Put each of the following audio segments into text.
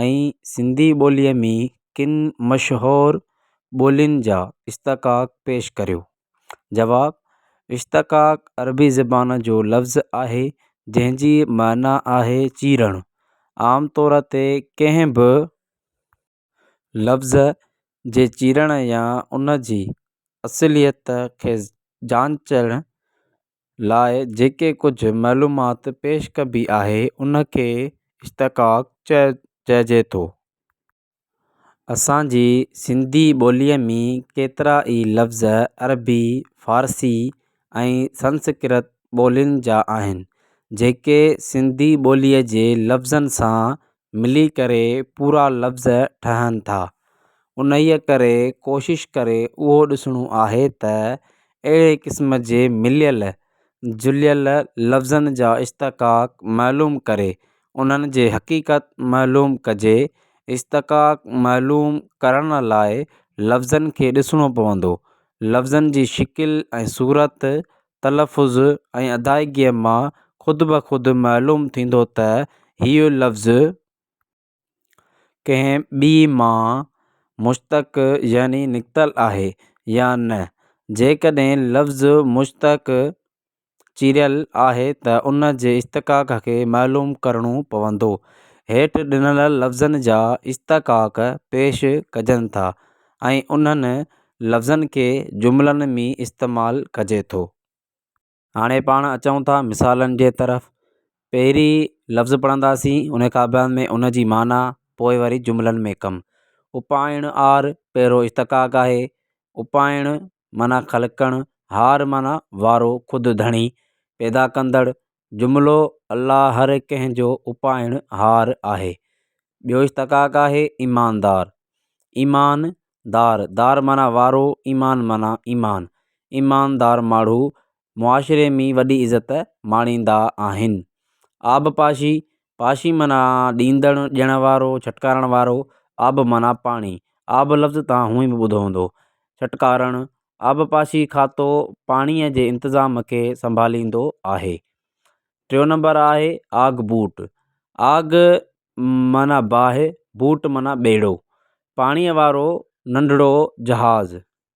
۽ سنڌي ٻوليء ۾ ڪن مشهور ٻولين جا اشتقاق پيش ڪريو جواب اشتقاق عربي زبان جو لفظ آهي جنهن جي معنيٰ آهي چيرڻ عام طور تي ڪنهن به لفظ جي چيرڻ يا ان جي اصليت کي جانچڻ لاء جيڪي ڪجهه معلومات پيش ڪبي آهي ان کي اشتقاق چئ چئجي ٿو اسانجي سنڌي ٻوليء مين ڪيترا ئي لفظ عربي فارسي ۽ سنسڪرت ٻولين جا آهن جيڪي سنڌي ٻوليء جي لفظن سان ملي ڪري پورا لفظ ٺهن ٿا انهيء ڪري ڪوشش ڪري اهو ڏسڻو آهي ته اهڙي قسم جي مليل جليل لفظن جا اشتقاق معلوم ڪري انهن جي حقيقت معلوم ڪجي اشتقاق معلوم ڪرڻ لاء لفظن کي ڏسڻو پوندو لفظن جي شڪل ۽ صورت تلفظ ۽ ادائگيء مان خود بخود معلوم ٿيندو ته هيء لفظ ڪنهن ٻي مان مشتق يعني نڪتل آهي يا نه. جيڪڏهن لفظ مشتق چيريل آهي ته ان جي اشتقاق کي معلوم ڪرڻو پوندو. هيٺ ڏنل لفظن جا اشتقاق پيش ڪجن ٿا. ۽ انهن لفظن کي جملن ۾ استعمال ڪجي ٿو. هاڻي پاڻ اچون ٿا مثالن جي طرف. پهرين لفظ پڙهنداسين، ان کان بعد ۾ ان جي معنيٰ، پوء وري جملن ۾ ڪم. اپائڻ آر پهريون اشتقاق آهي. اپائڻ معنيٰ خلقڻ، هار معنيٰ وارو، خود ڌڻي، پيدا ڪندڙ، جملو، الله هر ڪنهن جو اپائڻ هار آهي. ٻيو اشتقاق آهي ايماندار. ايمان دار، دار معنيٰ وارو، ايمان معنيٰ ايمان. ايماندار ماڻهو معاشري مي وڏي عزت ماڻيندا آهن. آبپاشي، پاشي معنيٰ ڏيندڙ، ڏيڻ وارو، ڇٽڪارڻ وارو، آب معنيٰ پاڻي، آب لفظ توهان هونئن به ٻڌو هوندو. ڇٽڪارڻ، آبپاشي کاتو پاڻيء جي انتظام کي سنڀاليندو آهي. ٽيون نمبر آهي آگ بوٽ، آگ معنيٰ باهه، بوٽ معنيٰ ٻيڙو، پاڻيء وارو ننڍڙو جهاز.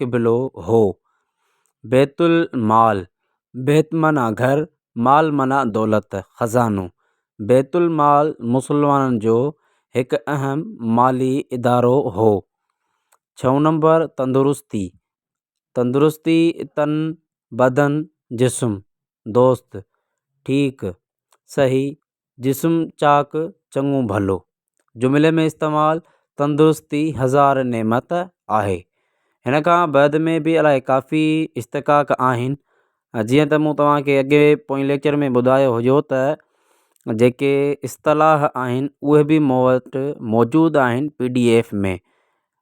قبلو هو. بيت المال، بيت معنيٰ گهر، مال معنيٰ دولت، خزانو. بيت المال مسلمانن جو هڪ اهم مالي ادارو هو. ڇهون نمبر تندرستي، تندرستي تن، بدن، جسم، دوست، ٺيڪ، صحيح، جسم چاڪ چڱو ڀلو. جملي ۾ استعمال تندرستي هزار نعمت آهي. هن کان بعد ۾ به الاهي ڪافي استقاق آهن جيئن ته مون توهان کي اڳي پوئين ليڪچر ۾ ٻڌايو هيو ته جيڪي اصطلاح آهن اهي به مون وٽ موجود آهن پي ڊي ايف ۾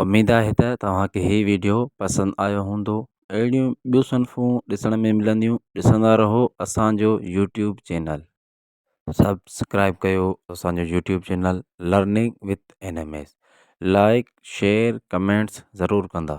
اميد آهي ته توهان کي هي ويڊيو پسند آيو هوندو اهڙيون ٻيون صنفون ڏسڻ ۾ ملنديون ڏسندا رهو اسانجو يوٽيوب چينل. سبسڪرائب ڪيو اسانجو YouTube channel learning with N M S like share comments ضرور ڪندا.